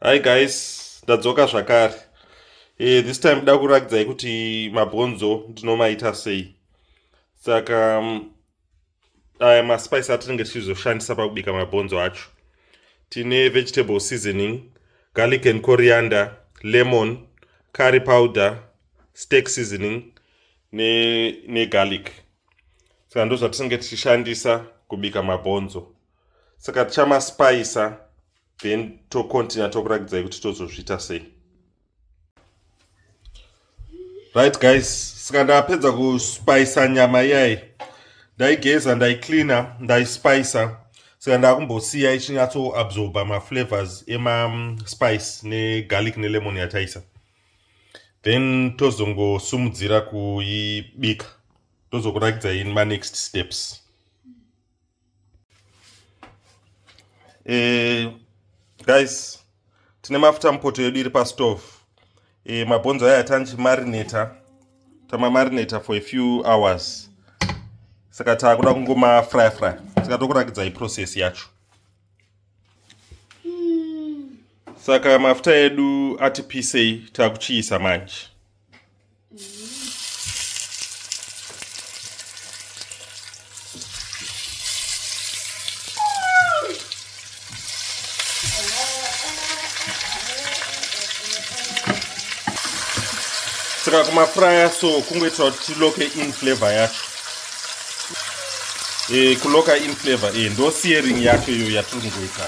hi guys ndadzoka zvakare e, this time da kuratidzai kuti mabhonzo ndinomaita sei saka mm, aya maspice atinenge tichizoshandisa pakubika mabhonzo acho tine vegetable seasoning garlic and coriander lemon curry powder steak seasoning negarlic ne saka ndozvatinenge tichishandisa kubika mabhonzo saka tichamaspayisa then tocontinue tokuratidzai kuti tozozviita sei right guys saka ndapedza kuspayisa nyama iyayi ndaigeza ndaicleana ndaispayisa saka ndakumbosiya ichinyatsoabsorba maflavors emaspice negarlic nelemon yataisa then tozongosumudzira kuibika tozokuratidzai manext steps eh, guys tine mafuta mupoto yedu iri pastove eh, mabhonzo aya tanchimarinata tamamarinata for a few hours saka taakuda kungomafryfry saka tokurakidzai process yacho saka mafuta edu ati pisei takuchiisa manje saka kumafuraya so kungoitira kuti tiloke in flavor yacho eh, kuloka in flavor eh, ndo searing yacho iyo yatiri kungoita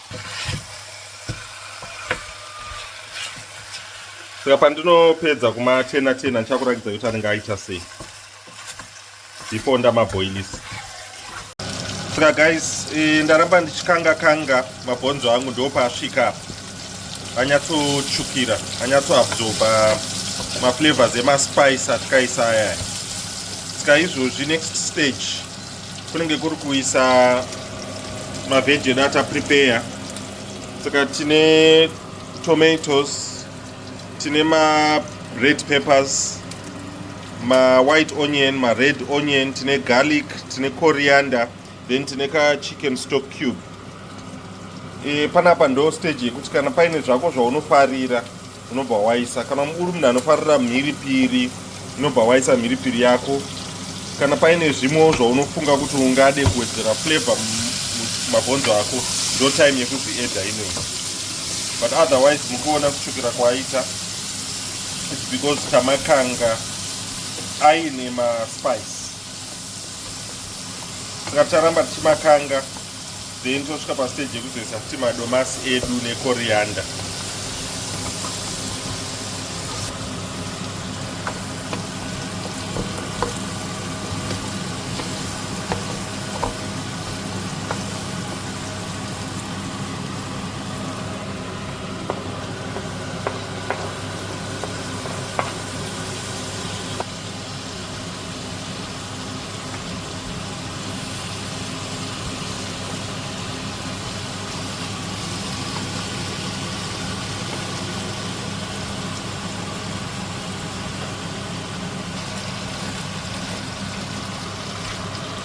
saka pandinopedza kumachena chena ndichakuratidza kuti anenge aita sei before ndamabhoilisa saka guys e, ndaramba ndichikanga kanga mabhonzo angu ndo paasvika apa anyatsotsvukira anyatsoabsorba maflavors emaspice atikaisa ayaya saka izvozvi next stage kunenge kuri kuisa mavheji edu ataprepeya saka tine tomatoes tine mared peppers mawhite onion mared onion tine garlic tine coriander then tine kachicken stock cube e, panapa ndo stage yekuti kana paine zvako zvaunofarira unobva waisa kana uri munhu anofarira mhiripiri unobva waisa mhiripiri yako kana paine zvimwewo zvaunofunga kuti ungade kuwedzera flavor mabhonzo ako ndo time yekuzviedha inoyi but otherwise mukuona kutsvukira kwaita its because tamakanga aine maspice saka ticharamba tichimakanga then tosvika pastage yekuzoisa futi madomasi edu nekoriyanda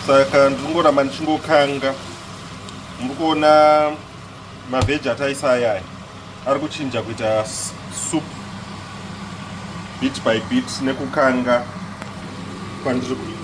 saka ndiri ngoramba ndichingokanga muri kuona mavheji ataisa ayaya ari kuchinja kuita soup bit by bit nekukanga kwandiri kuita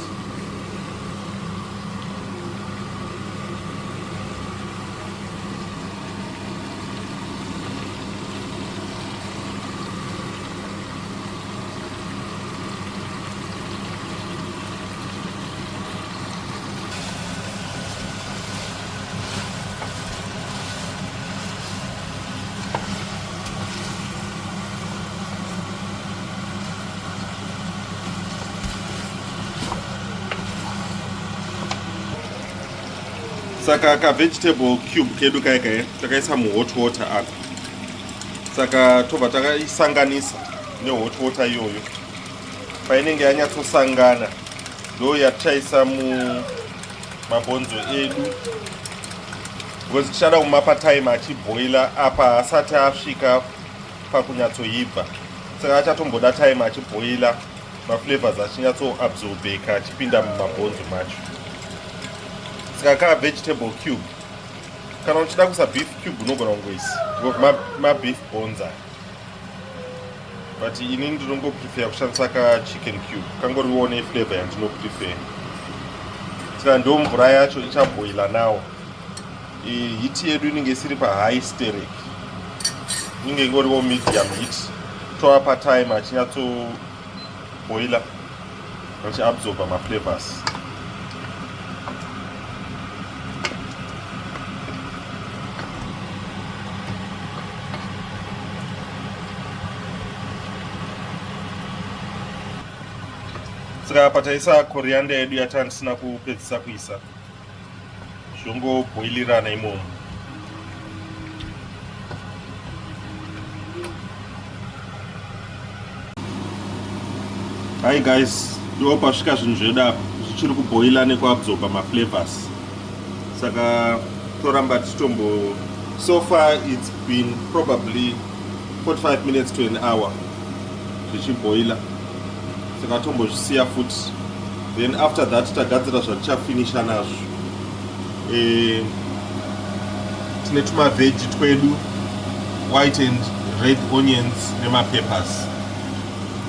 saka ka vegetable cube kedu kaya kaya takaisa muhot water apa saka tobva takaisanganisa nehot water iyoyo painenge yanyatsosangana ndo yatichaisa mu mabhonzo edu because tichada kumapa time achibhoila apa haasati asvika pakunyatsoibva saka achatomboda time achibhoila maflavors achinyatsoabsorbeka achipinda mumabhonzo macho saka kaa vegetable cube kana uchida kusa beef cube unogona kungoisa mabeef bonza but ini ndinongo prefer kushandisa ka chicken cube kangoriwo ne flavor yandino prefer tika ndo mvura yacho ichaboila nawo hiti yedu inenge isiri pa high steric inenge ingoriwo medium hit toapa time achinyatso boiler vachi absorber ma flavors saka apa taisa coriander yedu yatandisina kupedzisa kuisa zvongobhoilirana imomo hi guys ndo pasvika zvinhu zvedu apa zvichiri kubhoila nekuabsorba maflavors saka toramba tichitombo so far it's been probably 45 minutes to an hour zvichibhoila Takatombozvisiya futi then after that tagadzira zvatichafinisha nazvo eh, tine tumaveji twedu white and red onions nemapepers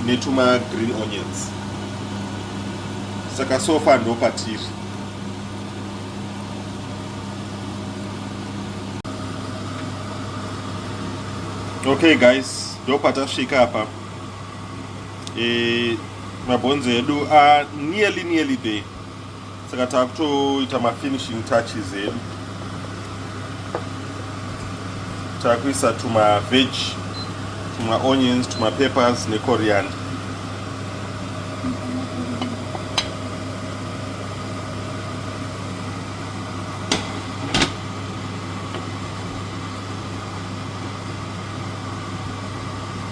netuma green onions saka sofa ndo patiri okay guys ndo patasvika apa e, mabhonzi edu a nearly nearly day saka takutoita mafinishing touches edu takuisa tuma veg tuma onions tuma peppers ne coriander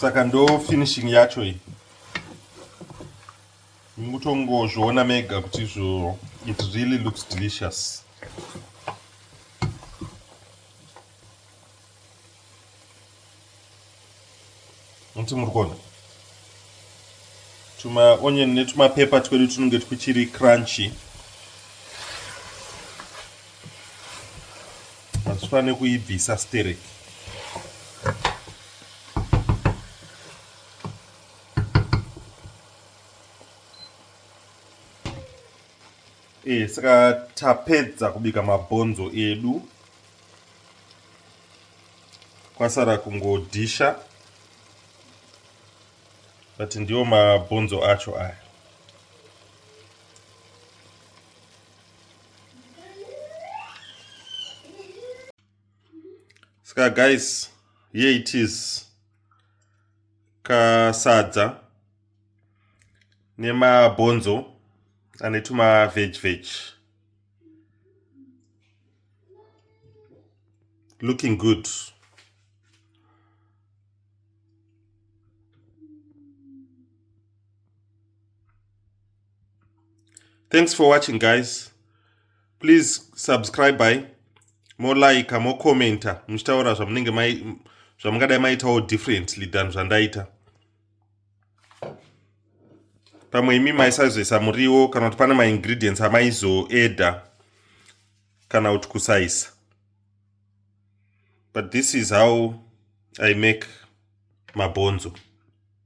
saka ndo finishing yacho iyi mukutongozviona mega kuti izvo it really looks delicious muti muri kuona tumaonion netumapepa twedu tunenge twuchiri crunchy hatufane kuibvisa sterek E, saka tapedza kubika mabhonzo edu kwasara kungodhisha but ndiwo mabhonzo acho aya saka guys here it is kasadza nemabhonzo ane tuma veg veg looking good thanks for watching guys please subscribe by molike mocommenta muchitaura zvamunenge mai zvamungadai maitawo differently than zvandaita pamwe imi maisazoisa muriwo kana kuti pane maingredients amaizoeda kana kuti kusaisa but this is how i make mabhonzo